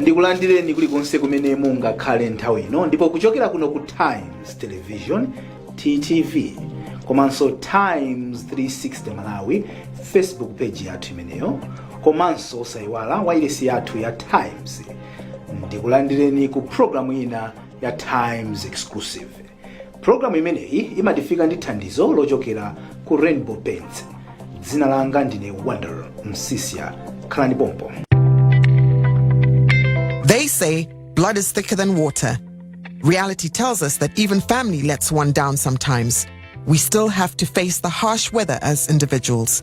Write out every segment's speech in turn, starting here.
ndikulandireni kulikonse kumene mungakhale nthawi ino ndipo kuchokera kuno ku times television ttv komanso times 360 malawi facebook page yathu imeneyo komanso osayiwala wailesi yathu ya times ndikulandireni ku programu ina ya times exclusive pulogalamu imeneyi imatifika ndi thandizo lochokera ku rainbow paints dzina langa ndine wonder msisia khalani pompo They say blood is thicker than water. Reality tells us that even family lets one down sometimes. We still have to face the harsh weather as individuals.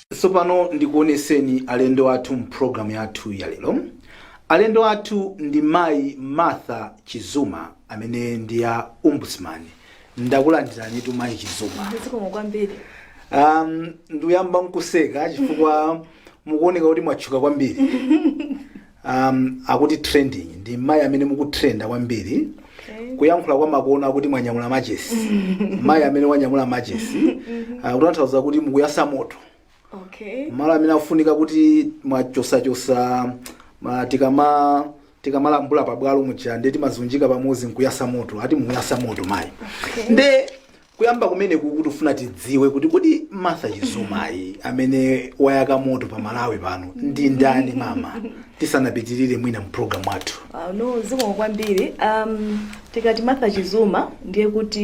Tsopano ndikuoneseni alendo athu mu program yathu ya lero. Alendo athu ndi mayi Martha Chizuma amene ndi a Ombudsman. Ndakulandiranitu mayi Chizuma. Zikomo kwambiri. Um, ndiyamba nkuseka chifukwa mukuoneka kuti mwatchuka kwambiri. um, akuti trending ndi mayi amene mukutrenda kwambiri kuyankhula kwa makono akuti mwanyamula machesi mayi amene wanyamula machesi uh, kutanthauza kuti mukuyasa moto okay malo amene afunika kuti mwachosachosa ma- tikama tikamalambula pabwalo muja nde timazunjika pamodzi nkuyasa moto ati mukuyasa moto mayi nde Kuyamba kumene kukutifuna tidziwe kuti kodi Martha Chizumayi amene wayaka moto pa Malawi pano ndi ndani mama tisanapitirire mwina mu program wathu. Ah, no zikomo kwambiri um, tikati martha chizuma ndiye kuti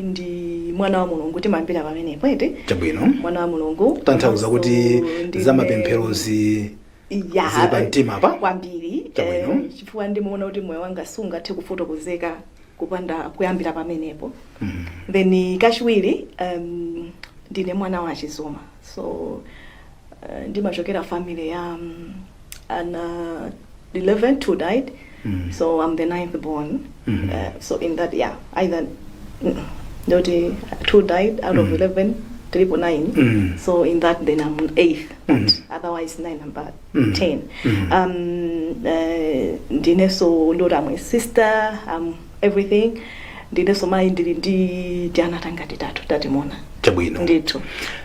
ndi mwana wa mulungu timayambira pamenepo eti Chabwino. mwana wa mulungu kutanthauza kuti Komanso ndine- zamapempherozi Ya, Zili pa mtima apa? kwambiri Chabwino. eh, chifukwa ndimaona kuti moyo wanga sungathe kufotokozeka kupanda kuyambira pamenepo then kachiwiri um, ndine mwana wa a chizuma so uh, ndimachokera family ya um, ana 11 two died Mm. so i'm the ninth born Mhm. uh, so in that yeah either mm, ndoti two died out of Mm. 11 tilipo 9 Mm. so in that then i'm eighth but Mm. otherwise nine i'm about Mm. 10 Mm. um uh, ndineso ndoti i'm a sister i'm everything ndineso mayi ndili ndi tiana tangati tatu tatimuna chabwino ndithu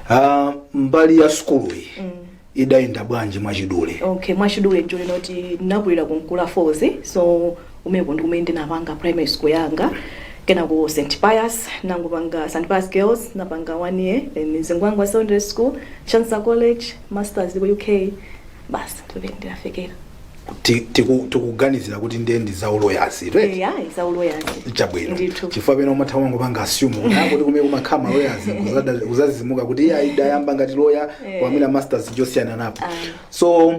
Ah, mbali ya sukuluyi Mm. idayenda bwanji mwachidule? Okay, mwachidule nchonena kuti ndinakulira ku Nkula Falls so kumeko ndi kumene ndinapanga primary school yanga kenako St Pius nangopanga St Pius Girls napanga one year then Zingwangwa Secondary School Chancellor College Masters ku UK basi ndi pomwe ndinafikira ti- tiku- tikuganizira kuti ndiye ndi zauloyazi right? eya izauloyazi chabwino Ndithu. chifukwa pena umatha kungopanga assume kuti akuti kumene kumakhala maloyazi kuzada- kuzazizimuka kuti iye ayidayamba ngati loya Eh. koma mwina masters chosiyana napo Ah. so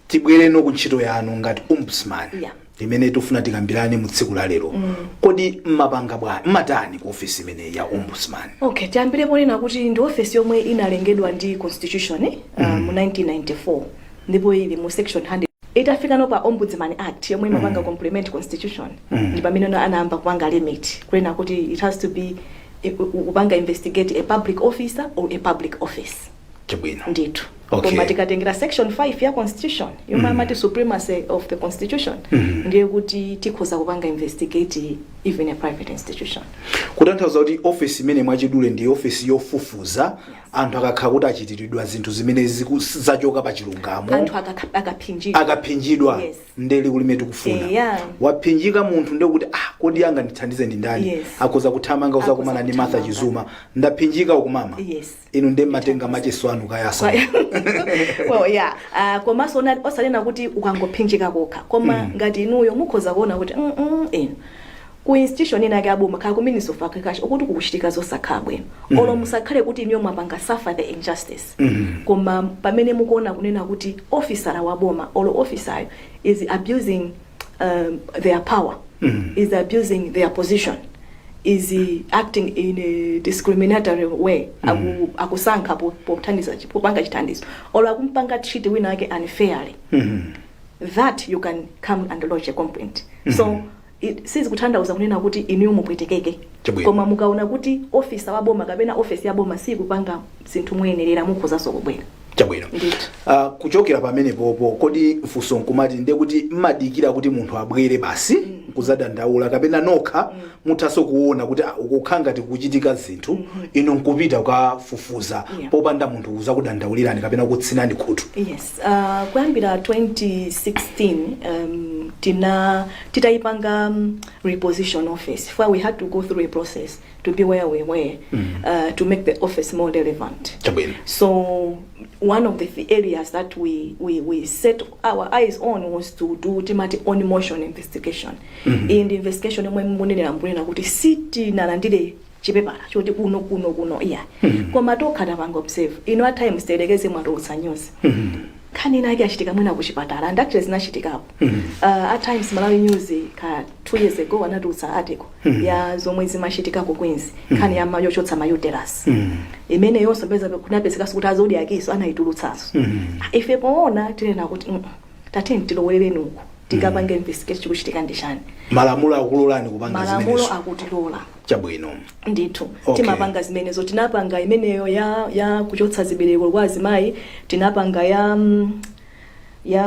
tibwere no ku ntchito yanu ngati ombudsman Yeah. imene tikufuna tikambirane mu tsiku la lero kodi mmapanga bwanji mmatani ku ofesi imeneyi ya ombudsman okay tiyambire ponena kuti ndi ofesi yomwe inalengedwa ndi constitution eh, uh, mu 1994 ndipo ili mu section 100 itafika no pa ombudsman act yomwe imapanga complement constitution ndi pamene ana- anayamba kupanga limit kunena kuti it has to be eh, ku- kupanga investigate a public officer or a public office Chabwino. ndithu Okay. koma tikatengera section 5 ya constitution yomwe amati supremacy of the constitution ndiye kuti tikhoza kupanga investigate even a private institution kutanthauza kuti ofesi imene mwachidule ndi ofesi yofufuza anthu akakhala kuti achitiridwa zinthu zimene ziku- zachoka pa chilungamo anthu akakha- akaphinjidwa akaphinjidwa Yes. nde liwu limene tikufuna Eya. waphinjika munthu nde kuti ah kodi angandithandize ndi ndani Yes. akhoza kuthamanga Akhoza uzakumana ndi martha kuthamanga. chizuma ndaphinjika uku mama yes inu nde mmatenga machesi anu kayatsa well, yeah. uh, komanso ona- osanena kuti ukangophinjika kokha koma mm. ngati inuyo mukhoza kuona kuti mm, mm, inu ku institution ina yake aboma kaya ku ministry of agriculture ukuti kukuchitika zosakhala bwino mm. olo musakhale kuti inuyo mwapanga suffer the injustice mm. koma pamene mukuona kunena kuti ofisala wa boma olo ofisayo is abusing um, their power mm. is abusing their position is acting in a discriminatory way mm. akusankha pothandiza popanga chithandizo or akumpanga treat wina wake unfairly mm -hmm. that you can come and lodge a complaint mm -hmm. so mm-hmm. sizikuthandauza kunena kuti inuyo mupwetekeke koma mukaona kuti ofisa wa boma kapena ofesi ya boma sikupanga zinthu moyenerera mukhozanso kubwera chabwino Ndithu. Ah, kuchokera pamenepopo kodi mfunso nkumati ndiye kuti mmadikira kuti munthu abwere basi nkuzadandaula kapena nokha muthanso kuona kuti ah, ukukhala ngati kuchitika zinthu inu nkupita kukafufuza Yeah. popanda munthu uzakudandaulirani kapena kutsinani khutu yes uh, kuyambira 2016 um, tina titayipanga um, reposition office where we had to go through a process to be where we were uh, to make the office more relevant. chabwino So one of the th- areas that we, we, we set our eyes on was to do timati own motion investigation. Ndi investigation yomwe munenera mbunena kuti sitinalandire chipepala choti kuno kuno kuno iya koma tokha tapanga observe you know at times tiyerekeze mwatulutsa news nkhani inake yachitika mwina kuchipatala and actually zinachitikapo Uh, at times malawi news ka two years ago anatulutsa article ya zomwe zimachitika ku queens nkhani ya ma- yochotsa ma uterus imeneyonso peza kunapezekaso kuti a zodiakiso anayitulutsanso ife poona tinena kuti mm, tateni tilowerereni uku tikapange investigate chikuchitika ndi chani malamulo akulolani kupanga malamulo zimenezo akutilola chabwino ndithu Okay. timapanga zimenezo tinapanga imeneyo ya ya kuchotsa zibereko kwa azimayi tinapanga ya mm, ya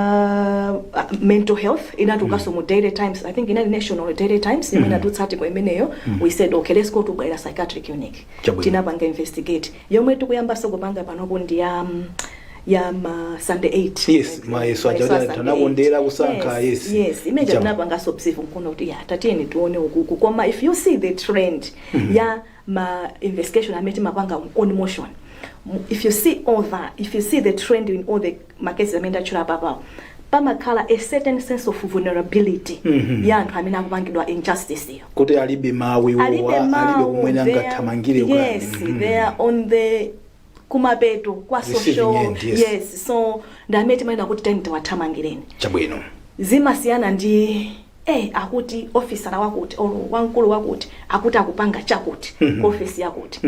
uh, mental health inatukaso mu daily times i think inali nation olo daily times imene inatutsa article imeneyo we said okay let's go to bwaila psychiatric unit Chabwino. tinapanga investigate yomwe tikuyambaso kupanga panopo ndi ya um, ya ma standard 8 Yes, mayeso aja kuti anakondera kusankha, yes. yes imene Chabwino. tinapangaso observe nkuona kuti ya tatiyeni tione ukuku koma if you see the trend ya ma investigation amene timapanga own motion Mu- if you see all that if you see the trend in all the ma cases amene ndatchula apapawa pamakhala a certain sense of vulnerability Mhm. ya anthu amene akupangidwa injustice iyo kuti alibe mawu iwowa alibe alibe mawu kumene they are- angathamangire kuyani. yes Mhm. they are on the kumapeto kwa Receiving social end, yes. yes so ndamene timayenera kuti tani tiwathamangireni chabwino zimasiyana ndi ee akuti officer wakuti or wamkulu wakuti akuti akupanga chakuti ku office yakuti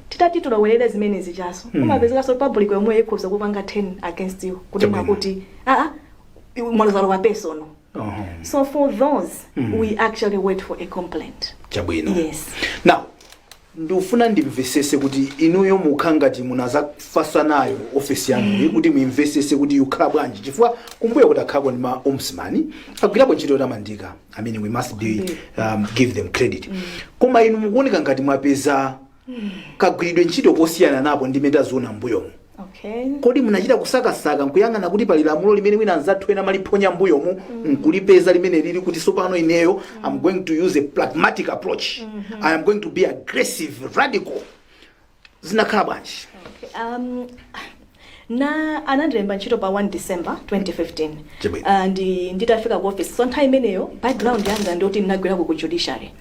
titati tiloŵerere zimene zijazo umapezekaso public yomwe ikhoza kupanga turn against you kunena Chabwino. kuti aa mwalozalo wa personal Oho. so for those we actually wait for a complaint chabwino yes now Ndufuna ndimvesese kuti inuyo mukukhala ngati munadzafatsa nayo ofesi yanuyi kuti muimvesese kuti ikukhala bwanji chifukwa kumbuyoku takhalapo ndi ma ombudsman agwirapo ntchito yotamandika I mean we must be um, give them credit koma inu mukuoneka ngati mwapeza kagwiridwe ntchito kosiyana napo ndi mmene taziona mbuyomu Okay. kodi munachita kusakasaka nkuyang'ana kuti pali lamulo limene mwina anzathu ena amaliphonya mbuyomu nkulipeza limene lili kuti sopano ineyo am going to use a pragmatic approach i am going to be aggressive radical zinakhala bwanji Um, na anandilemba ntchito pa 1 december 2015 Chabwino. Ah, ndi nditafika ku office so nthawi imeneyo background yanga ndiyoti ndinagwirako ku judiciary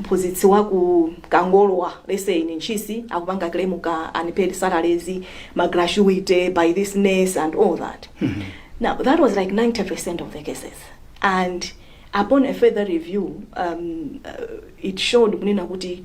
mphuzitsi waku kangolwa lets say in ntchisi akupanga claim ka unpaid salaries ma gratuity by this nurse and all that now that was like 90% of the cases and upon a further review um, uh, it showed kunena kuti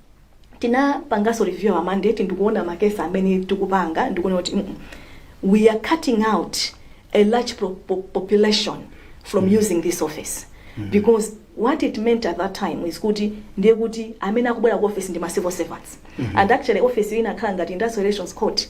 tinapanganso review our mandate ndikuona ma case amene tikupanga ndikuona kuti mm, we are cutting out a large pro- po- population from using this office because what it meant at that time is kuti ndiye kuti amene akubwera ku office ndi ma civil servants and actually office iyi inakhala ngati industrial relations court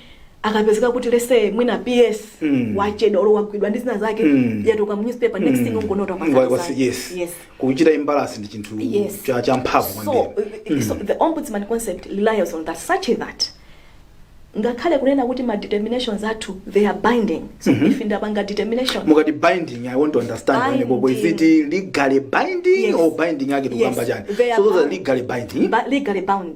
akapezeka kuti lese mwina ps Mm. wachedwa olo wagwidwa ndi zina zake Mm. yatuluka mu newspaper next thing ungonota Wa- wa- yes yes yes kuchita imbalance ndi chinthu Yes. cha cha mphamvu so, kwambiri uh, so the ombudsman concept relies on that such that ngakhale kunena kuti ma determinations athu they are binding so Mhm. if ndapanga determination mukati binding i want to understand Binding. pamenepo is it legally binding Yes. or binding yake tikukamba Yes, chani they are so those are bound. legally binding ba- legally bound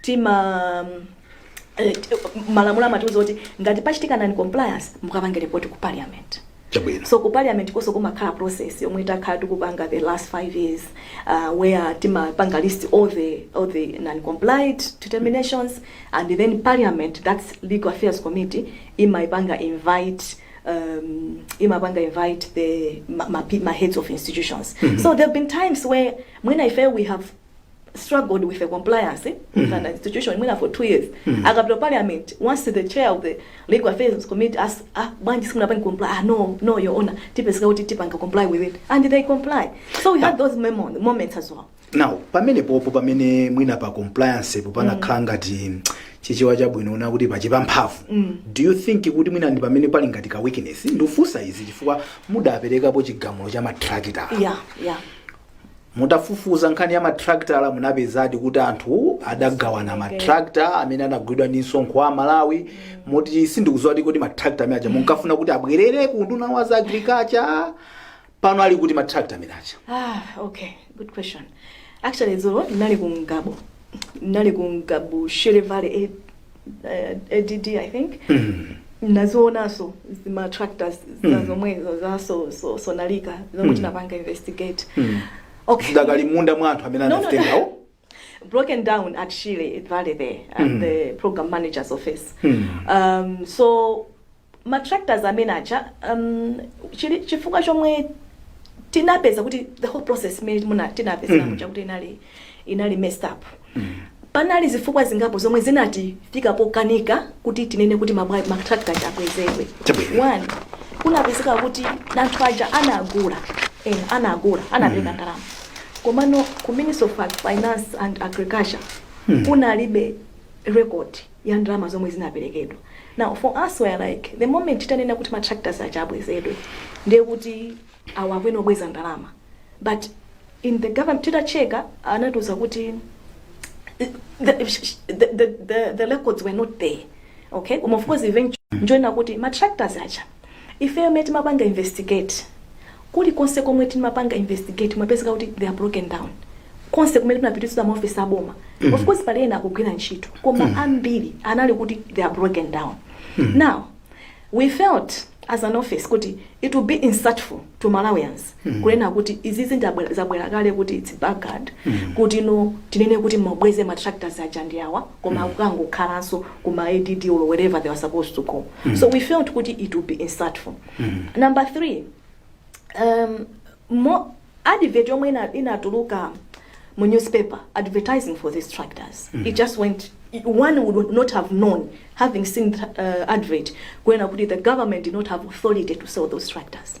tima malamulo amatiuza kuti ngati pachitika non compliance mukapange report ku parliament Chabwino. so ku parliament konso kumakhala process yomwe takhala tikupanga the last five years uh, where timapanga list all the, all the non compliant determinations and then parliament that's legal affairs committee imaipanga invite um, imapanga invite the ma, ma, pe- ma heads of institutions so there have been times where mwina ife we have struggled with the compliance with an institution mwina for two years akapita parliament once the chair of the legal affairs committee asks ah bwanji simunapanga comply ah no no your honor tionetsetsa kuti tipanga comply with it and they comply so we had those memo- moments as well now pamenepopo pamene mwina pa compliancepo panakhala ngati chichewa chabwino kunena kuti pachepa mphamvu do you think kuti mwina ndi pamene pali ngati ka weakness ndikufunsa izi chifukwa mudaperekapo chigamulo cha matrakita yeah yeah mutafufuza nkhani ya matracta munapezadi kuti anthu adagawana matracta amene anagulidwa ndi msonkho wa amalawi moti sindikuziwa kuti kodi matracta amene aja munkafuna kuti abwerere ku unduna wa za agriculture pano ali kuti matracta amene aja Ah, okay. Good question. Actually, Dzulo, nali ku Ngabo. Nali ku Ngabo, Shere Valley, eh, eh, add i think ndazionanso zima tractors zina Mm. zomwezo za zowonongeka zomwe Mm. tinapanga investigate Mm. okay zidakali mmanja mwa anthu amene No, no, no. anazitengawo broken down at Shire Valley there at Mm. the program manager's office. Mm. Um, so ma tractors amene aja um, chili chifukwa chomwe tinapeza kuti the whole process imene muja tinapezera muja kuti inali inali messed up panali zifukwa zingapo zomwe zinatifikitsa pokakamizika kuti tinene kuti mabwa- ma tractor aja abwezedwe Chabwino. one kunapezeka kuti anthu aja anagula eh, anagula anapereka ndalama komano ku ministry of finance and agriculture kunalibe record ya ndalama zomwe zinaperekedwa. Now for us we're like the moment titanena kuti ma tractors aja abwezedwe ndiye kuti awo akuyenera kubweza ndalama but in the government titatcheka anatiuza kuti the, the, the, the, the records were not there okay koma of course eventually nchoona kuti ma tractors aja Ifeyo mmene timapanga investigate, kulikonse komwe timapanga investigate kumapezeka kuti they are broken down. Konse kumene tinapita m'ma office a boma. Of course pali ena akugwira ntchito, koma ambiri anali kuti they are broken down. Now, we felt as an office kuti it would be insultful to Malawians Hmm. kunena kuti izizi nzabwerera kale kuti its backward hmm. kuti no tinene kuti tabweza matractors aja ndi awa koma hmm. akukangokhalanso kuma add or wherever they were supposed to go so we felt kuti it would be insultful number three um, mu advert yomwe inatuluka mu newspaper advertising for these tractors mm. it just went one would not have known having seen uh, advert kunena kuti the government did not have authority to sell those tractors mm.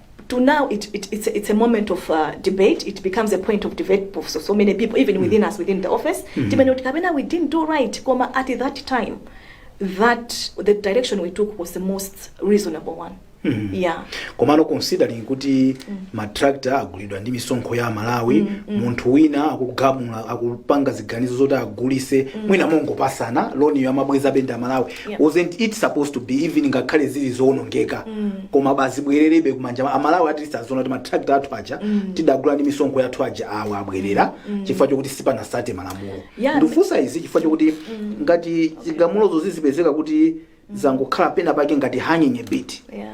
to now it, it, it's, a, it's a moment of uh, debate it becomes a point of debate for so, so many people even within us within the office timanena kuti kapena we didn't do right koma at that time that the direction we took was the most reasonable one yeah komano considering kuti matractor agulidwa ndi misonkho ya aMalawi munthu wina akugamula akupanga ziganizo zoti agulise mwina mongopasana loniyo amabwezabe ndi aMalawi Yeah. wasn't it supposed to be even ngakhale zili zoonongeka komabe azibwererebe kumanja ma- amalawi at least aziona kuti matractor athu aja tidagula ndi misonkho yathu aja awa abwerera chifukwa chokuti sipanasate malamulo Yeah, ndikufunsa izi chifukwa chokuti ngati zigamulozo zizipezeka kuti zangokhala pena pake ngati hanging a bit Yeah.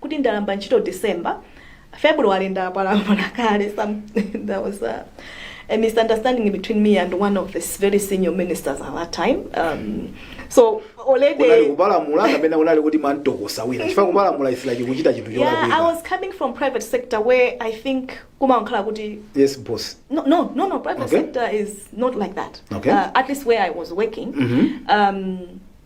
kuti ndayamba ntchito December, February ndapalamula kale some there was a, a misunderstanding between me and one of the very senior ministers at that time um, so unali already kupalamula kapena unali kuti munantokosa wina chifukwa kupalamula ndiye kuti kuchita chinthu yeah, I cholakwika was coming from private sector where I think kumakhala kuti yes boss no no no no private Okay. sector is not like that Okay. uh, at least where I was working Mhm. um,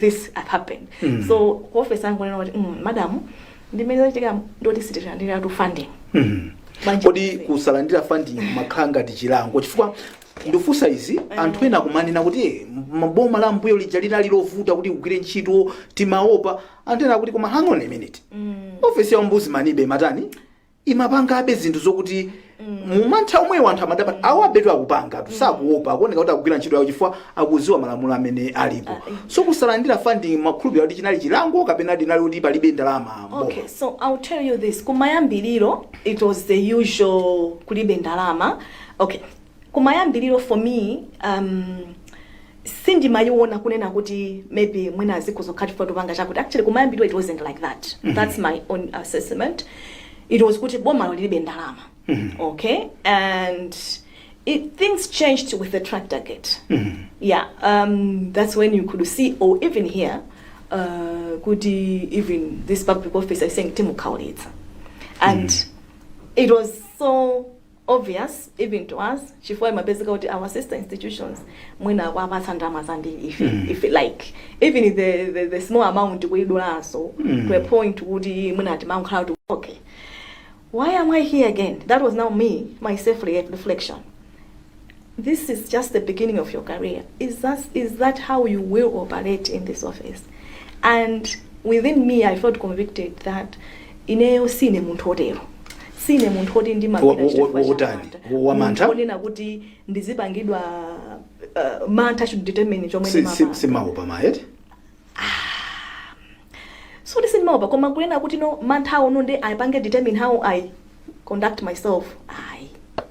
this had happened Mm. so ku office yangu anena kuti mm, madam mmene zachitika ndoti sitilandira tu funding Mhm. Banja- kodi kusalandira funding mumakhala ngati chilango chifukwa ndikufunsa izi anthu ena kumanena kuti "Eh, m- boma la mbuyo lija linali lovuta kuti ugwire ntchito timaopa anthu ena akuti koma hang on a minute Mm. ofesi ya ombudsman ibe matani imapangabe zinthu zokuti mumantha omwewo anthu amadabwa awa betu akupangatu sakuopa akuoneka kuti akugwira ntchito yawo chifukwa akuziwa malamulo amene alipo so kusalandira funding mumakhulupirira kuti chinali chilango kapena chinali kuti palibe ndalama boma. Okay, so I'll tell you this. Kumayambiriro, it was the usual kulibe ndalama. Okay, Kumayambiliro for me um sindimayiona kunena kuti maybe mwina izi zikhoza kukhala chifukwa tapanga chakuti actually kumayambiliro it wasn't like that mm -hmm. that's my own assessment it was kuti bomalo lilibe ndalama mm -hmm. okay and it, things changed with the tractor gate mm -hmm. yeah um, that's when you could see or even hear uh, kuti even this public officer saying timukhaulitsa and mm -hmm. it was so obvious even to us chifukwa imapezeka kuti our sister institutions mwina akuwapatsa ndalama zambiri if, if like even the, the, the small amount kuidulanso to a point kuti mwina timakhala kuti okay why am i here again that was now me my self reflection This is just the beginning of your career. Is that, is that how you will operate in this office? And within me, I felt convicted that ineyo sine munthu otero sine munthu oti Wa- wa- wa- wotani? Wa- wa mantha? ndingaonetse kuti ndizipangidwa uh, mantha should determine chomwe Si- si- ndimapanga. simaopa mayi soti sindimaopa koma kunena kuti no mantha awo no nde apange determine how i conduct myself ayi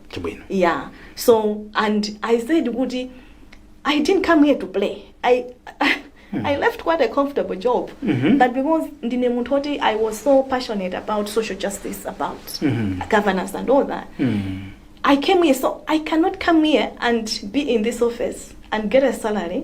chibwino yeah so and i said kuti i didn't come here to play i i left quite a comfortable job Mhm. but because ndine munthu woti i was so passionate about social justice about Mhm. governance and all that Mm. I came here, so I cannot come here and be in this office and get a salary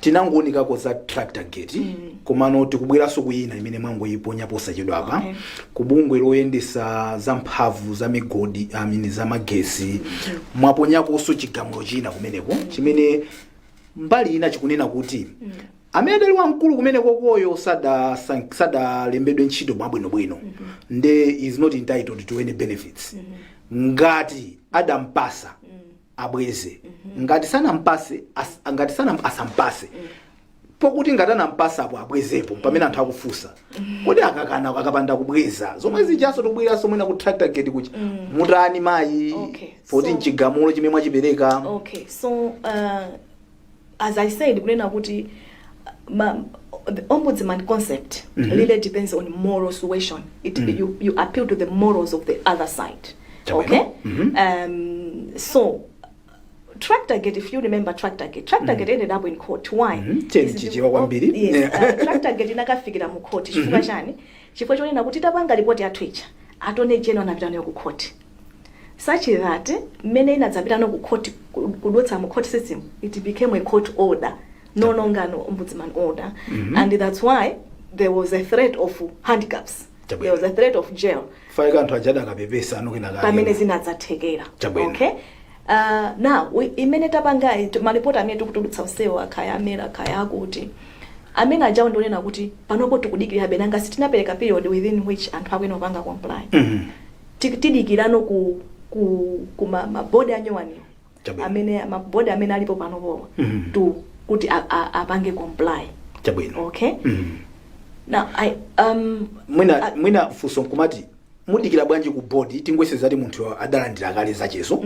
Tinangounikako za Tractorgate komano tikubweranso ku ina imene mwangoiponya posachedwapa ku bungwe loyendesa za mphamvu za migodi amini za magesi mwaponyakonso chigamulo china kumeneko chimene mbali ina chikunena kuti amene adali wamkulu kumenekoyo sada- san- sadalembedwe ntchito mwabwinobwino nde is not entitled to any benefits ngati adampasa abweze ngati sanampase as, ngati sanam, asampase pokuti ngati anampasa apo abwezepo pamene anthu akufunsa kodi akakana akapanda kubweza zomwe zijanso tikubweranso mwina ku tractor gate kuja mutani mayi Okay, poti so- mchigamulo chimene mwachipereka okay so uh, as I said kunena kuti ma, the ombudsman concept mm -hmm. really depends on moral suasion it, mm -hmm. you, you appeal to the morals of the other side okay mm -hmm. um, so Tractorgate, if you remember Tractorgate, Tractorgate mm. ended up in court. Why? Mm -hmm. Yes, uh, Tractorgate inakafikira mu court. Chifukwa mm-hmm. chani? Chifukwa chonena kuti tapanga report yathu ija. Attorney General anapita nayo ku court. such that mmene inadzapita no ku court ku- kudutsa mu court system it became a court order no longer an ombudsman order and that's why there was a threat of handcuffs Chabwino. there was a threat of jail faika anthu ajada akapepesa anokena pamene zinadzathekera Chabwino. okay Uh, now we- imene tapanga it- malipoti amene tikutulutsa onsewo kaya a MERA kaya akuti amene ajawo ndionena kuti panopo tikudikirira be ngati sitinapereka period within which anthu akuyenera kupanga comply Ti, tidikirano ku, ku, ku ma, ma board anyuwaniwo Chabwino. amene ma board amene alipo panopowa Mhm. to kuti a- a- apange comply chabwino okay Mhm. now i um mwina I- mwina funso nkumati mudikira bwanji ku board tingoyerekeza kuti munthu adalandira kale zachezo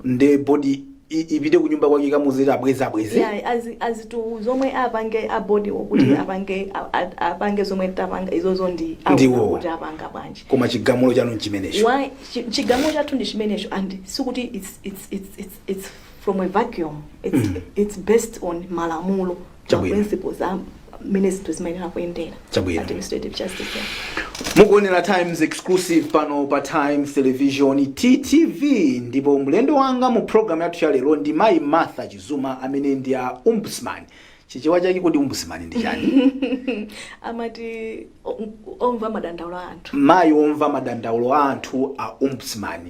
nde bodi i- ipite kunyumba kwake kukamuuzira abweze abweze Yeah, azi- azitu zomwe apange a bodi okuti Mhm. apange a- a- apange zomwe tapanga izozo ndi Ndiwo. awo kuti apanga bwanji koma chigamulo chanu nchimenecho ayi chi- chigamulo chathu ndi chimenecho and sikuti it's, it's, it's, it's, it's from a vacuum it's, Mm. it's based on malamulo Chabwino. principles a mmene zinthu zimayenera kuyendera Chabwino. administrative justice yeah. mukuonera times exclusive pano pa times television ttv ndipo mlendo wanga mu programu yathu ya lero ndi mayi martha chizuma amene ndi a ombudsman chichewa chake kodi ombudsman ndi chani amati o- omva madandaulo a anthu mayi omva madandaulo a anthu a ombudsman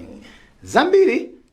zambiri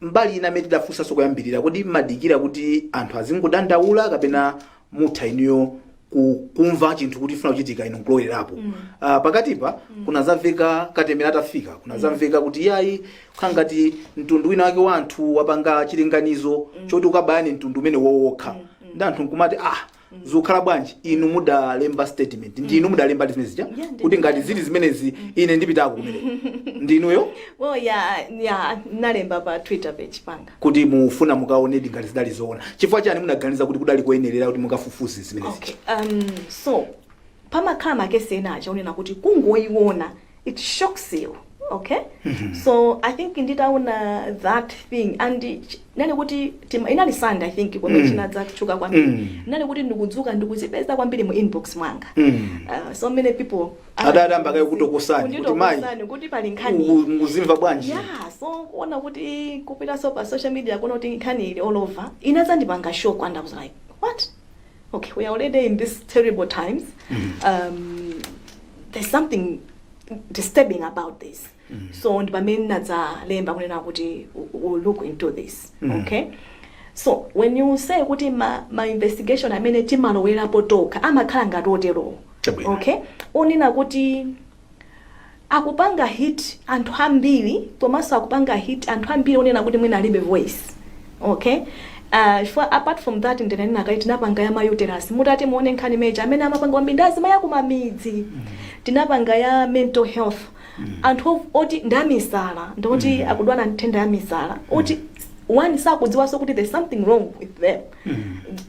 mbali ina imene tidafunsa koyambirira kodi mmadikira kuti anthu azingodandaula kapena mutha inuyo ku- kumva chinthu kuti funa kuchitika inu nkulowerapo mm. uh, pakatipa mm. kunadzamveka katemera atafika kunadzamveka mm. kuti yayi kukhala ngati mtundu wina wake wa anthu wapanga chilinganizo mm. choti ukabayane mtundu umene wokhawokha mm. ndi anthu nkumati ah zikukhala bwanji inu mudalemba statement ndi inu mudalembadi zimene zija Yeah, ndi- kuti ngati zili zimenezi ine ndipitako kumene ndi inuyo well ya ya ndinalemba pa twitter page panga kuti mufuna mukaonedi ngati zidali zoona chifukwa chani munaganiza kuti kudali kuyenerera kuti mukafufuze zimene okay zija um so pamakhala makesi ena aja onena kuti kungoyiona it shocks you okay so i think nditaona that thing and ch- inali kuti tima- inali sunday i think pomwe Mm. chinadza kutchuka kwambiri Mm. inali kuti ndikudzuka ndikuzipeza kwambiri mu inbox mwanga Mm. uh, so many people adayamba kaye kutokosani, kuti Kunditokosani, mayi, kuti pali nkhani Uku- mukuzimva bwanji yeah so kuona kuti kupitaso pa social media kuona kuti nkhani ili all over inazandipanga shock and i was like what Okay, we are already in these terrible times. Um, there's something disturbing about this. So ndi pamene nadzalemba kunena kuti we'll look into this. Okay? So when you say kuti ma, ma investigation amene timalowerapo tokha amakhala ngati oterowo. Chabwino. Okay? Onena kuti akupanga hit anthu ambiri komanso akupanga hit anthu ambiri onena kuti mwina alibe voice okay uh, chifukwa apart from that ndinanena kale tinapanga ya mauterus mutati muone nkhani meja amene amapanga kwambiri ndi azimayi akumamidzi tinapanga ya mental health anthu of- oti ndi amisala ndi oti akudwala nthenda ya misala oti oni sakudziwanso kuti there's something wrong with them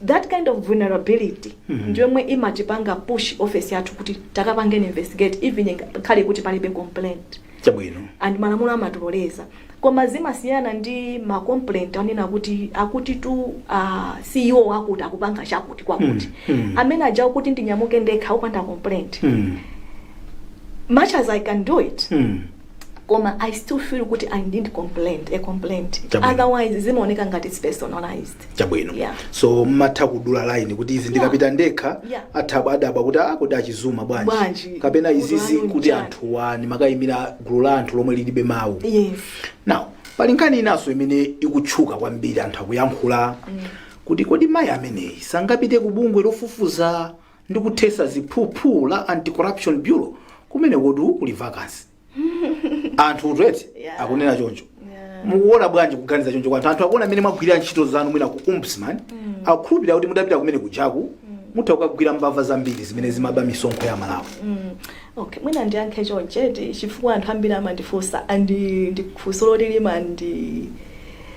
that kind of vulnerability ndiyomwe imatipanga push office yathu kuti takapangeni investigate even inga- khale kuti palibe complaint chabwino and malamulo amatiloleza koma zimasiyana ndi ma complaint onena kuti akuti tu uh, ceo wakuti akupanga chakuti kwakuti Mm, mm. amene aja kuti ndinyamuke ndekha opanda complaint Mm, much as i can do it mm, koma i still feel kuti i need complaint a complaint Chabwino. otherwise zimaoneka ngati it's personalized chabwino Yeah. so ndimatha kudula line kuti izi ndikapita ndekha Yeah. atha kudabwa kuti ah kodi a Chizuma bwanji Bwanji. kapena Gulu izizi lanu kuti njani? anthuwa ndimakayimira gulu la anthu lomwe lilibe mawu yes now pali nkhani inanso imene ikutchuka kwambiri anthu akuyankhula kuti kodi mayi ameneyi sangapite ku bungwe lofufuza ndi kuthesa ziphuphu la anti-corruption bureau kumenekotu kuli vacancy anthu ku Twitter Yeah. akunena choncho Yeah. mukuona bwanji kuganiza choncho kwa anthu anthu akuona mmene mwagwirira ntchito zanu mwina ku ombudsman akukhulupirira kuti mutapita kumene kujaku mutha kukagwira mbava zambiri zimene zimaba misonkho ya Amalawi Mm. okay mwina ndiyankhe choncheti chifukwa anthu ambiri amandifunsa and ndi funso loti limandi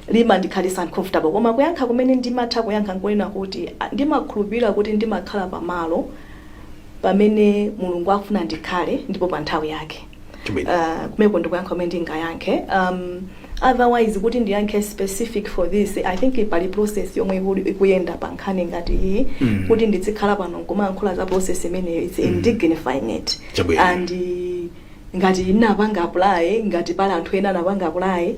limandikhalitsa uncomfortable koma kuyankha kumene ndimatha kuyankha nkunena kuti ndimakhulupirira kuti ndimakhala pamalo pamene Mulungu akufuna ndikhale ndipo pa nthawi yake. Amen. Uh, kumeko ndikuyankha kumene ndingayankhe um, otherwise kuti ndiyankhe specific for this i think pali process yomwe ikuli- ikuyenda pa nkhani ngati iyi Mm. kuti ndizikhala pano nkumayankhula za process imeneyo it's indignifying it Chabwino. and uh, ngati ndinapanga apply ngati pali anthu ena anapanga apply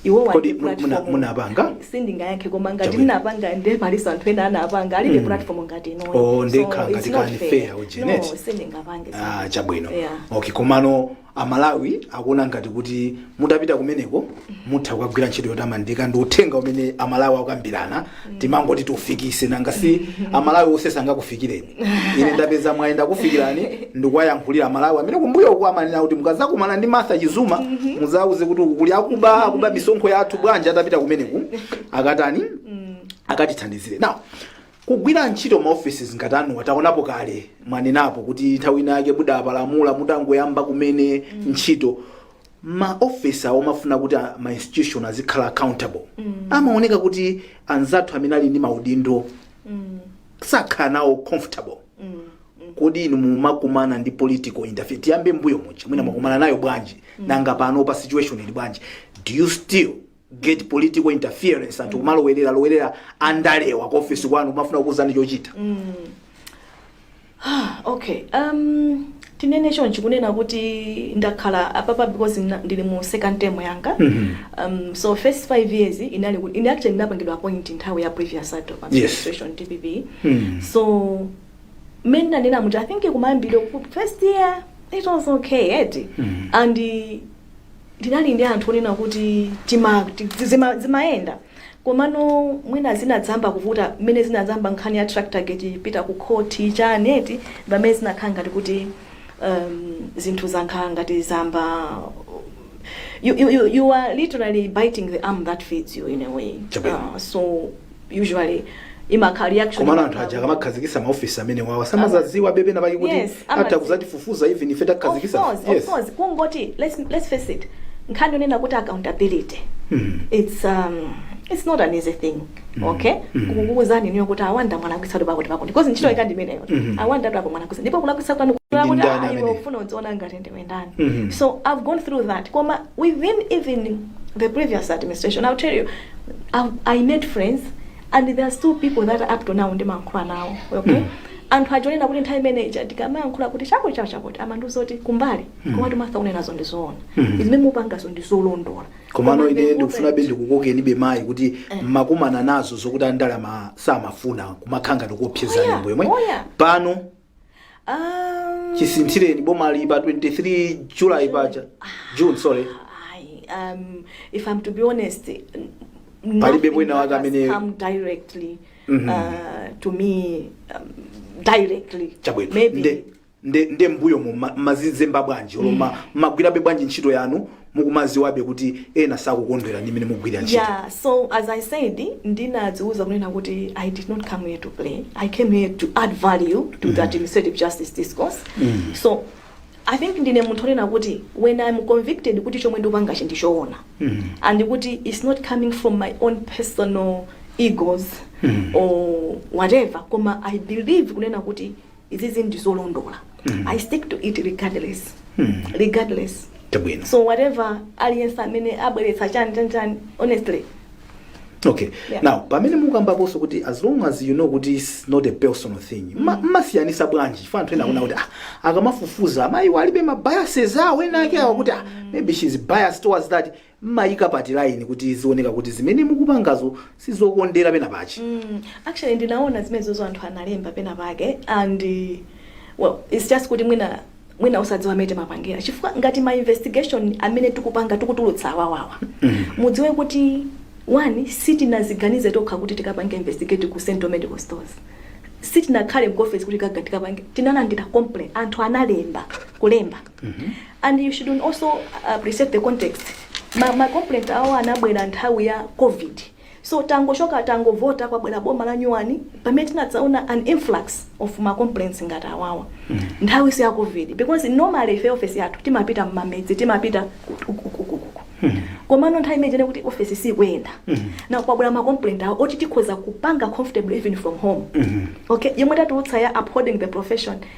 iwo Kodi walibe muna- muna- platform. munapanga? sindingayankhe koma ngati Chabwino. ndinapanga nde palinso anthu ena anapanga alibe platform ngati inoyo. Oh, ndikhala So, ngati it's not kani fair. fair, ujeni, No, eti? sindingapange ah, zimenezo. chabwino Yeah. okay komano amalawi akuona ngati kuti mutapita kumeneko mutha kukagwira ntchito yotamandika ndi uthenga umene amalawi akukambirana timangoti tiufikise nanga si amalawi onse sangakufikireni ine ndapeza mwayi ndakufikirani ndikuwayankhulira amalawi amene kumbuyo uku amanena kuti mukazakumana ndi martha chizuma muzauze kuti uku kuli akuba akuba misonkho yathu bwanji atapita kumeneku akatani akatithandizire now kugwira ntchito maofesi ngati anuwa taonapo kale mwanenapo kuti nthawi ina yake mudapalamula mutangoyamba kumene ntchito maofesi awo amafuna kuti a- ma institution azikhala accountable amaoneka kuti anzathu amene ali ndi maudindo sakhala nawo comfortable kodi inu mumakumana ndi political interference tiyambe mbuyo muja mwina mwakumana nayo bwanji nanga panopa situation ili bwanji do you still get political interference anthu kumalowerera lowerera andalewa ku office kwanu kumafuna kukuuzani chochita okay um, tinene chonchi kunena kuti ndakhala apapa because na- ndili mu second term yanga um, so first five years inali kuti ine actually ndinapangidwa appoint nthawi ya previous adop Yes. administration dpp Mm. so mmene ndanena muti i think kumayambiro ku- first year it was okay eti Mm. and ndinali ndi anthu onena kuti tima- ti- zima- zimayenda Komano mwina zinadzamba kuvuta mmene zinadzamba nkhani ya tractorgate ipita ku court chani eti mpamene zinakhala ngati kuti um zinthu zankhala ngati zamba you you you you are literally biting the arm that feeds you in a way Chabwino. uh, so usually imakhala reaction komano anthu aja akamakhazikisa maofisi amenewawa samazaziwabe penapake kuti Yes, atha amadziwa. kuzatifufuza even ife Of takhazikisa course, of course. Kungoti, let's, let's face it. Nkhani yonena kuti accountability. It's um it's not an easy thing. Okay? Kukuuzani inuyo kuti a Banda mwalakwisatu pakuti pakuti. Because ntchito yake ndi imeneyo eti. A Banda apo mwalakwisatu. Ndipo kulakwisa kwanu kwakuti ndani ayi amene? ufuna udziona ngati ndiwe ndani. Mhm. So I've gone through that. Koma within even the previous administration, I'll tell you, I've, I made friends and there are still people that up to now ndimayankhula nawo okay anthu aja onena kuti nthawi imene ija ndikamayankhula kuti chakuti chakuti chakuti amandiuza kuti kumbali komatu Martha unenazo ndi zoona zimene mupangazo ndi zolondola komano Koma ine ndiuza ndikufunabe ndikukokenibe mayi kuti mmakumana nazo zokuti andalewa samafuna kumakhala ngati kuopsezani Oh yeah, mbuyomu oh yeah. pano Um, chisinthireni bomali pa 23 july paja june sorry I, um, if I'm to be honest, n- Palibe nothing wina that wake has amene- come directly Mhm. uh, to me um, directly. chabwino Maybe nde nde nde mbuyomu ma- mazizemba bwanji olo mumagwirabe bwanji ntchito yanu mukumaziwabe kuti ena sakukondwera ndi mmene mukugwirira ntchito yeah so as i said ndinadziuza kunena kuti i did not come here to play i came here to add value to the administrative justice discourse so i think ndine munthu onena kuti when i'm convicted kuti chomwe ndikupangachi ndichoona and kuti it's not coming from my own personal egos or whatever koma i believe kunena kuti izizi ndizolondola i stick to it regardless regardless chabwino so whatever aliyense amene abweretsa chani chani chani honestly okay Yeah. now pamene mukambaponso kuti as long as you know kuti its not a personal thing mma- mmasiyanisa bwanji chifukwa anthu ena akunena kuti ah, akamafufuza amayiwo alibe mabiases awo ena ake awo kuti ah, maybe she's biased towards that mmayika pati line kuti zioneke kuti zimene mukupangazo sizokondera pena pake? Umm actually ndinaona zimenezozo anthu analemba pena pake and well it's just kuti mwina mwina osadziwa mmene timapangira chifukwa ngati ma investigation amene tikupanga tikutulutsa awawa mudziwe kuti one sitinaziganize tokha kuti tikapange investigate ku central medical stores sitinakhale mu office kuti kaga tikapange tinalandira complaint anthu analemba kulemba and you should also appreciate the context ma, ma complaint awo anabwera nthawi ya covid so tangochoka tangovota kwabwera boma la nyuwani pamene tinadzaona an influx of ma complaints ngati awawa nthawi si ya covid because normally ife office yathu timapita mmamidzi timapita ku- ku- ku- ku- ku- ku. komano nthawi imeneyo kuti office sikuyenda ndiye kwabwera ma complaint awo oti tikhoza kupanga comfortably even from home okay yomwe tatulutsa ya upholding the profession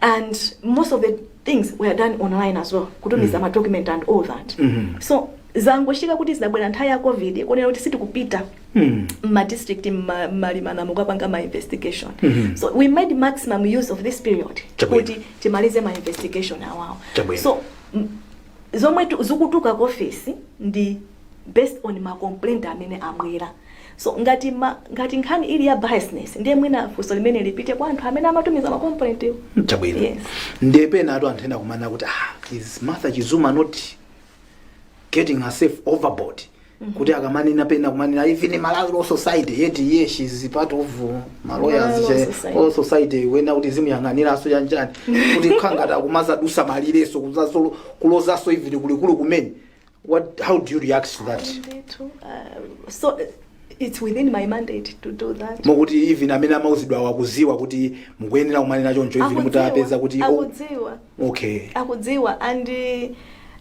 and most of the things were done online as well kutumiza ma document and all that so zangochitika kuti zinabwera nthawi ya covid konena kuti sitikupita mma district mma- mmalimana mokapanga ma investigation so we made maximum use of this period Chabwino. kuti timalize ma investigation awawo Chabwino. so m- zomwe tu- zikutuluka ku office ndi based on ma complaint amene abwera so ngati ma, ngati nkhani ili ya biasness ndiye mwina funso limene lipite kwa anthu amene amatumiza ma complaint wo chabwino Yes. ndiye penatu anthu ena akumanena kuti ah, is martha chizuma not getting herself overboard kuti akamanena pena kumanena even malawi law society yet eh she's part of Malawi Law ma lawyers Society. all society kunena kuti azimuyang'aniranso bwanji kuti nkhani ngati akumadzadutsa malireso kuzaso- kulozaso even kulikulu kumene What, how do you react to that? Ndithu, uh, so it's within my mandate to do that mokuti even amene amauzidwa awo akuziwa kuti mukuyenera kumanena choncho even mutapeza kuti oh, akudziwa okay akudziwa and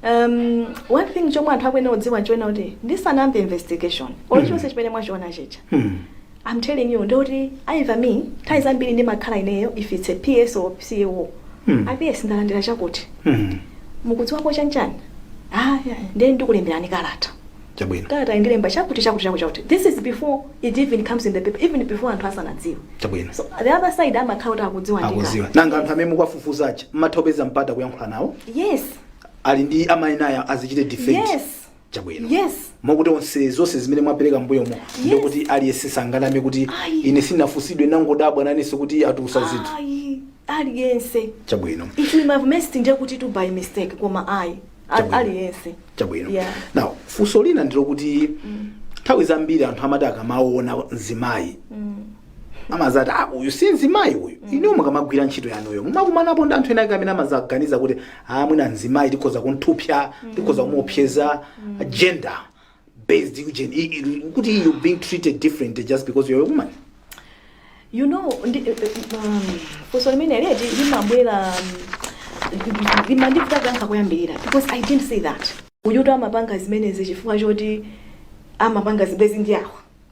um, one thing chomwe anthu akuyenera kudziwa nchonena kuti ndisanayambe investigation or chilichonse chimene mwachiona chicha Hmm. I'm telling you ndi oti even me nthawi zambiri ndimakhala ineyo if it's a PS or PA war. Mm. PS ndalandira chakuti. Mm. Mukudziwapo chanchani? Ah, yeah. ndiye ndikulemberani kalata. Chabwino. Kalata indilemba chakuti chakuti chakuti chakuti. This is before it even comes in the paper even before anthu asanadziwa. Chabwino. So the other side amakhala kuti akudziwa ndika. Akudziwa. Nanga anthu amene mukuwafufuza aja mmatha kupeza mpata kuyankhula nawo? Yes. Ali ndi amayenera azichite defend. Yes. Chabwino. Yes. Moti onse zonse zimene mwapereka mbuyomo yes. ndikuti aliyense sanganame kuti Ayi. ine sinafunsidwe nangodabwa nanenso kuti atulusa zinthu. Ayi, aliyense. Chabwino. If we have missed ndiye kuti it's by mistake koma ayi. Al- Chabwino. Aliyense. Chabwino. Yeah. Now, funso lina ndilo kuti nthawi zambiri anthu amati akamaona mzimayi amazati ah, uyu si mzimayi uyu inuyo mukamagwira ntchito yanuyo mumakumanapo ndi anthu ena ake amene amazaganiza kuti ah, mwina mzimayi tikhoza kumthupsya tikhoza kumuopseza gender based eugen- i- i- kuti you being treated differently just because you're a woman you know ndi, um, funso limene leti limabwera um, limandivuta kuyankha kuyambirira because i didn't say that uyuto amapanga zimenezi chifukwa choti amapanga zibwezi ndi awa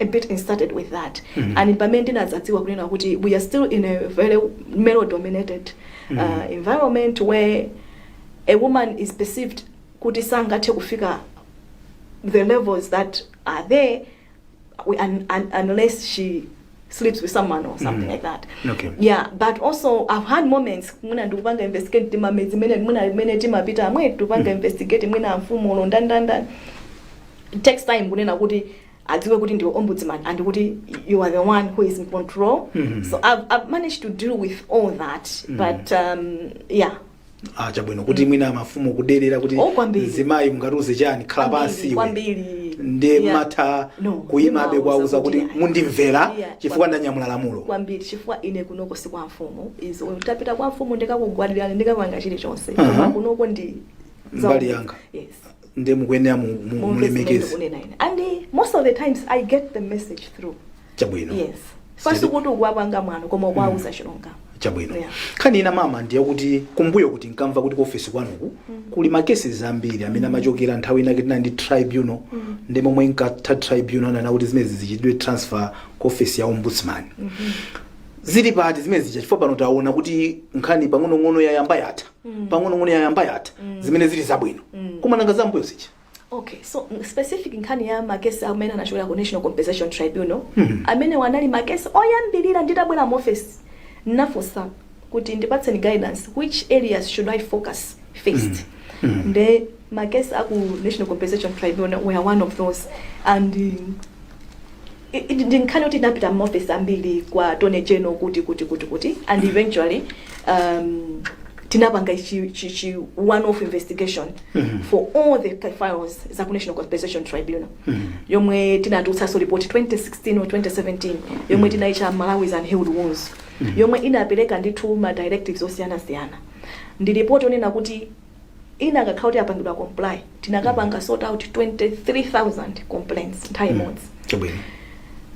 a bit and started with that mm -hmm. and pamene ndinazadziwa kunena kuti we are still in a very male dominated mm -hmm. uh, environment where a woman is perceived kuti sangathe kufika the levels that are there we, un, un, unless she sleeps with someone or something mm. like that okay. yeah but also i've had moments mwina ndikupanga investigate timamedzi mene mwina mene timapita amwe tupanga mm. investigate mwina mfumu ulo ndandandani It takes time kunena kuti adziwe kuti ndiwe ombudsman and kuti you are the one who is in control Mhm. so I've, I've managed to deal with all that but um, yeah ah chabwino kuti mwina mafumu kudelera kuti Oh, kwambiri. mzimayi mungatiuze chani khala Kwambiri, pansi iwe kwambiri ndi Yeah. mmatha No, kuyimabe ndimawuza kuwauza kuti kuti ayi. mundimvera Yeah, chifukwa kwambiri. ndanyamula lamulo kwambiri chifukwa ine kunoko si kwa mfumu zo titapita kwa mfumu ndikakugwadirani ndikapanga chilichonse Aha. koma kunoko ndi za Mbali umbudzi- yanga. yes nde mukuyenera mu- mu- mumve zimene mulemekeze ndikunena ine and eh, most of the times i get the message through chabwino yes Sitati- osati kuti ukuwapanga mwano koma ukuwauza chilungamo chabwino Yeah. nkhani ina mama ndiye kuti kumbuyoku tinkamva kuti kuofesi kwanuku kuli makeses ambiri amene amachokera nthawi inake tinali ndi tribunal ndi mmene inkatha tribunal anati zimenezi zichitidwe transfer ku ofesi ya ombudsman zili pati zimene zija chifukwa pano taona kuti nkhani pang'onong'ono yayamba yatha pang'onong'ono yayamba yatha zimene zili zabwino koma nanga zambuyo zija okay so mm, specific nkhani ya makesi amene anachokera ku national compensation tribunal amenewa anali makesi oyambirira nditabwera mu office nafunsa kuti ndipatseni guidance which areas should i focus first nde makesi aku national compensation tribunal were one of those and um, I, i, ndi nkhani yoti inapita m'maofesi ambiri kwa attorney general kuti kuti kuti kuti and eventually um, tinapanga chi chi, chi one off investigation for all the pa- files za ku national compensation tribunal yomwe tinatulutsanso report 2016 or 2017 yomwe tinaicha malawi's unhealed wounds yomwe inapereka ndithu ma directives osiyanasiyana ndi report yonena kuti ina akakhala kuti apangidwa comply tinakapanga sort out 23000 complaints nthawi imodzi chabwino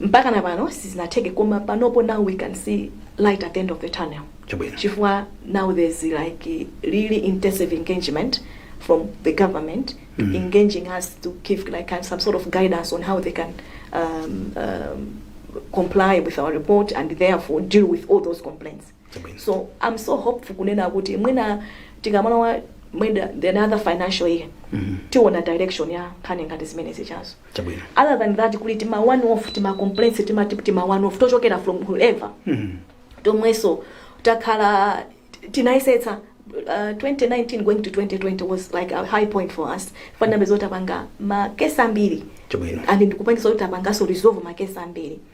mpaka na pano sizinatheke koma panopo now we can see light at the end of the tunnel chabwino chifukwa now there's like really intensive engagement from the government mm. engaging us to give like kind some sort of guidance on how they can um, um, comply with our report and therefore deal with all those complaints Chabwino. So I'm so hopeful kunena kuti mwina tikamalowa mwina the another financial year tiona direction ya nkhani ngati zimenezi chazo. Chabwino. Other than that kuli tima one off tima complaints tima tip tima one off tochokera from whoever tomwenso takhala tinayesetsa Uh, 2019 going to 2020 was like a high point for us fanambe zotapanga makesi ambiri Chabwino. and ndikupangitsa kuti tapanganso resolve makesi ambiri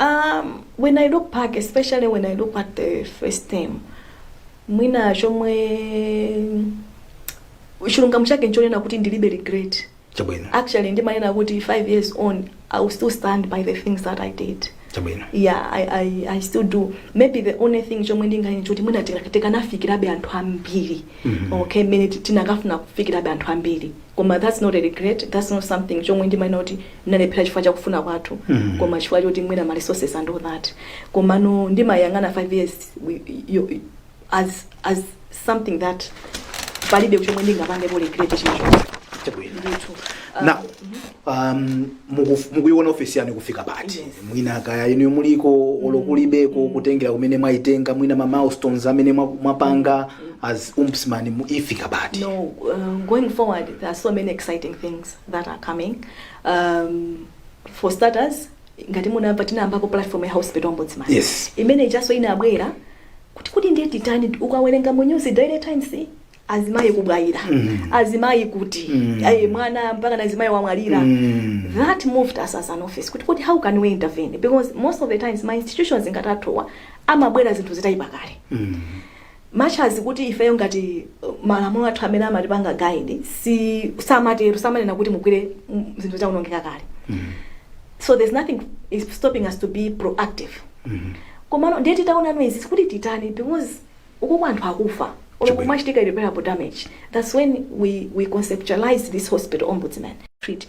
um, when i look back especially when i look at the first time mwina chomwe chilungamo chake nchonena kuti ndilibe regret chabwino actually ndimanena kuti five years on i will still stand by the things that i did chabwino yeah I, I, i still do maybe the only thing chomwe ndinganene choti mwina tikanafikirabe anthu ambiri Mhm. okay mmene ti- tinakafuna kufikirabe anthu ambiri koma that's not a regret, that's not something chomwe ndimanena kuti ndinalephera chifukwa cha kufuna kwathu Mhm. koma chifukwa choti mwina ma resources and all that komano ndimayang'ana 5 years we- yo- as, as something that palibe chomwe ndingapangepo regret chilichonse Chabwino. ndithu Ah, na um, muku- mukuiona ofesi yanu ikufika pati Yes. mwina kaya inu muliko olo kulibeko kutengera kumene mwaitenga mwina ma milestones amene mwa- mwapanga as ombudsman ifika pati No, um, going forward, there are so many exciting things that are coming. Um, for starters, ngati munamva tinayambapo platform ya hospital ombudsman Yes. imene ijanso inabwera kuti kuti ndiye titani ukawerenga mu news daily times azimayi kubwayira Mm. azimayi kuti Mm. ayi mwana mpaka na azimayi wamwalira Mm. that moved us as an office kuti kuti how can we intervene because most of the times ma institutions ngati athuwa amabwera zinthu zitayipa kale Mm. much as kuti ifeyo ngati malamulo athu amene amatipanga guide si samatero samanena kuti mugwire mm, zinthu zaonongeka kale so there's nothing is stopping us to be proactive komano ndiye titaona ndizi kuti titani because uku anthu akufa olo Chabwino. kumachitika irreparable damage that's when we, we conceptualize this hospital ombudsman treat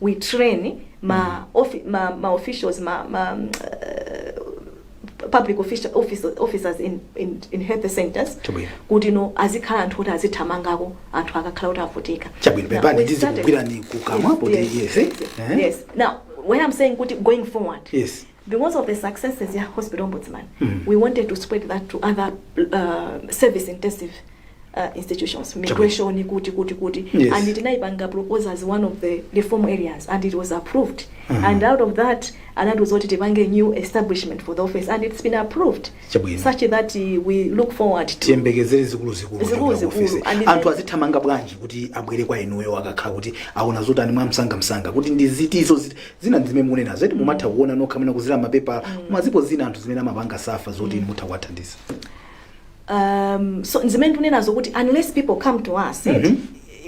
we train ma, offi ma, ma officials ma, ma uh, public offici- office, officers in, in, in health centers Chabwino. kuti no azikhale anthu oti azithamangako anthu akakhala kuti avutika Chabwino, Now, pepani, we started- ndikugwirani kukamwa, poti yes, yes, eh? yes. now when i'm saying kuti going forward Yes. Because of the successes ya Hospital Ombudsman, we wanted to spread that to other uh, service intensive uh, institutions, migration, kuti, kuti, kuti. Yes. And tinaipanga propose as one of the reform areas and it was approved. And out of that, anatiuza kuti tipange new establishment for the office and it's been approved Chabwino. such that uh, we look forward to tiyembekezere zikuluzikulu Zikuluzikulu. kuchokera ku ofesi. And anthu then- azithamanga bwanji kuti abwere kwa inuyo akakhala kuti aona zotani mwamsangamsanga kuti ndi zinthu ziti Zina ndi zimene mukunenazo eti mumatha kuona nokha mwina kudzera mapepala koma zipo zina anthu zimene amapanga suffer zoti inu mutha kuwathandiza. um, so zimene tikunenazo kuti unless people come to us mm Mhm.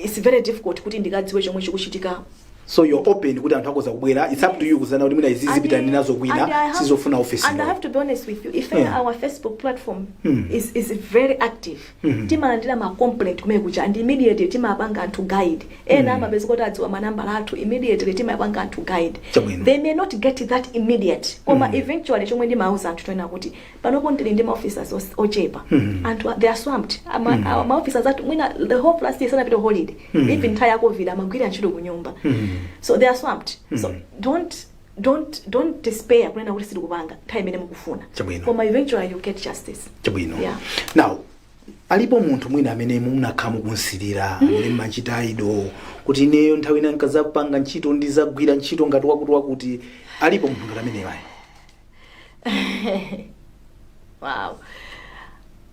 it's very difficult kuti ndikadziwe chomwe chikuchitika So you're open kuti anthu akhoza kubwera it's up to you kudzaona kuti mwina izi ndipita nazo and I kwina have- sizofuna office. and I have to be honest with you if Yeah. our Facebook platform Hmm. is, is very active timalandira ma complaint kumene kuja and immediately timapanga anthu guide ena amapeza kuti adziwa manambala athu immediately timapanga anthu guide Chabwino. they may not get that immediate koma eventually chomwe ndimauza anthu nchonena kuti panopo ndili ndi maofficers os- ochepa and they are swamped Ama- awa maofficers athu mwina the whole last year sanapita holiday even nthawi ya covid amagwira ntchito kunyumba so they are swamped so don't don't don't despair kunena kuti sitikupanga nthawi imene mukufuna Chabwino. koma eventually you get justice chabwino Yeah. now alipo munthu mwina amene munakhala mukumsirira amene mmamchita idol kuti ineyo nthawi ina nkazapanga ntchito ndizagwira ntchito ngati wakuti wakuti alipo munthu ngati ameneyo ayi wow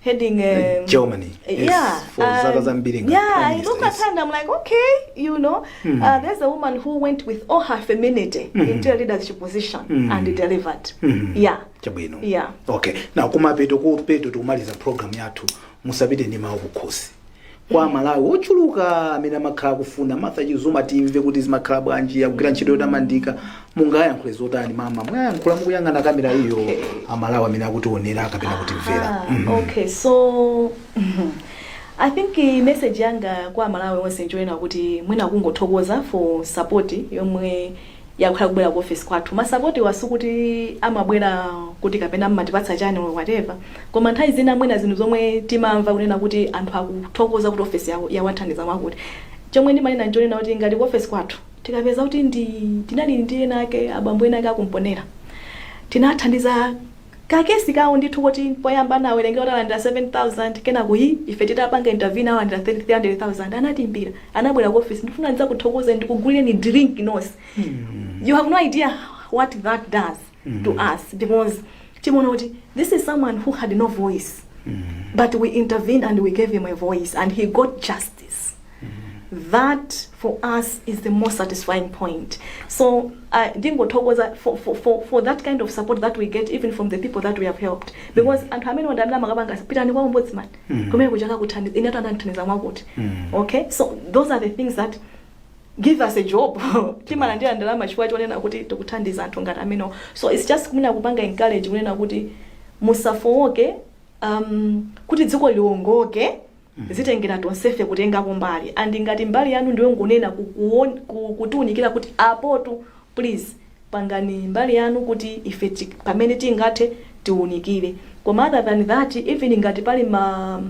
heading um, Germany. Yes, yeah, for and- zaka zambiri ngati yeah, prime I minister, look at yes. her and I'm like, okay, you know, uh, there's a woman who went with all her femininity into a leadership position and delivered. Yeah, chabwino Yeah. okay na kumapeto kupeto tikumaliza program yathu musapite ndi mawu kukhosi kwa amalawi ochuluka amene amakhala akufuna martha chizuma timve kuti zimakhala bwanji akugwira ntchito yotamandika mungawayankhule zotani mama muwayankhula mukuyang'ana kamera iyo Okay. amalawi amene akutionera kapena kutimvera Ah, Mhm. okay so i think eh, message yanga kwa amalawi onse nchonena kuti mwina kungothokoza for support yomwe yakhala ikubwera ku office kwathu masapotiwa sikuti amabwera kuti kapena mmatipatsa chani or whatever koma nthawi zina mwina zinthu zomwe timamva kunena kuti anthu akuthokoza kuti office yawo yawathandiza mwakuti chomwe ndimanena nchonena kuti ngati ku office kwathu tikapeza kuti tinali ndi ena ake abambo ena ake a ku Mponela tinathandiza Ka case kawo ndithu koti poyamba anawerengera kuti alandira 7000 kenako ife titapanga intervene alandira 300000 anatiimbira anabwera ku office ndifuna ndidzakuthokoze ndikugulireni drink nonse you have no idea what that does to us because timaona kuti this is someone who had no voice but we intervened and we gave him a voice and he got justice that for us is the most satisfying point so uh, ndingothokoza for, for, for, for that kind of support that we get even from the people that we have helped because anthu amene aja ndi amene amakapanga pitani kwa ombudsman kumenekuja akakuthandiza inetu anandithandiza mwakuti okay so those are the things that give us a job timalandira ndalama chifukwa chonena kuti tikuthandiza anthu ngati amenewo so its just kumenya kuwapanga encourage kunena kuti musafowoke um, kuti dziko liwongoke Zitengera tonsefe kutengapo mbali and ngati mbali yanu ndiyongonena ku ku kutiunikira kuti apotu please pangani mbali yanu kuti ife ti pamene tingathe tiunikire koma other than that even ngati pali ma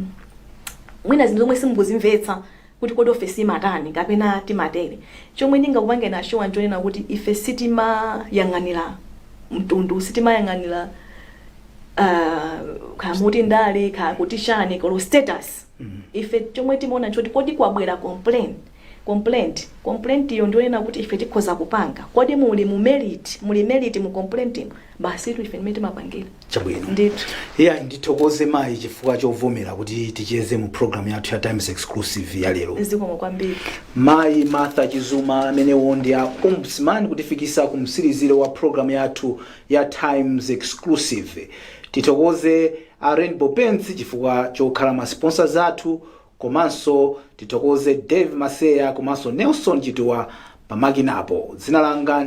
mwina zinthu zomwe simukuzimvetsa kuti kodi ofesi imatani kapena timatere chomwe ndingakupangeni assure nchonena kuti ife sitimayang'anira mtundu sitimayang'anira uh, kaya muti ndani kaya kuti chani colour status ife chomwe timaona choti kodi kwabwera complaint complaint complaint iyo ndionena kuti ife tikhoza kupanga kodi muli mu merit muli merit mu complaint imo basi tu ife ndimene timapangira chabwino ndithu iya ndithokoze mayi chifukwa chovomera kuti ticheze mu programu yathu ya times exclusive ya lero zikomo kwambiri mayi martha chizuma amenewo ndi a ombudsman kutifikitsa ku mtsiriziro wa programu yathu ya Times Exclusive. Tithokoze a Rainbow Paints chifukwa chokhala ma sponsors athu komanso tithokoze Dave Maseya komanso Nelson Chituwa pamakinapo. Dzina langa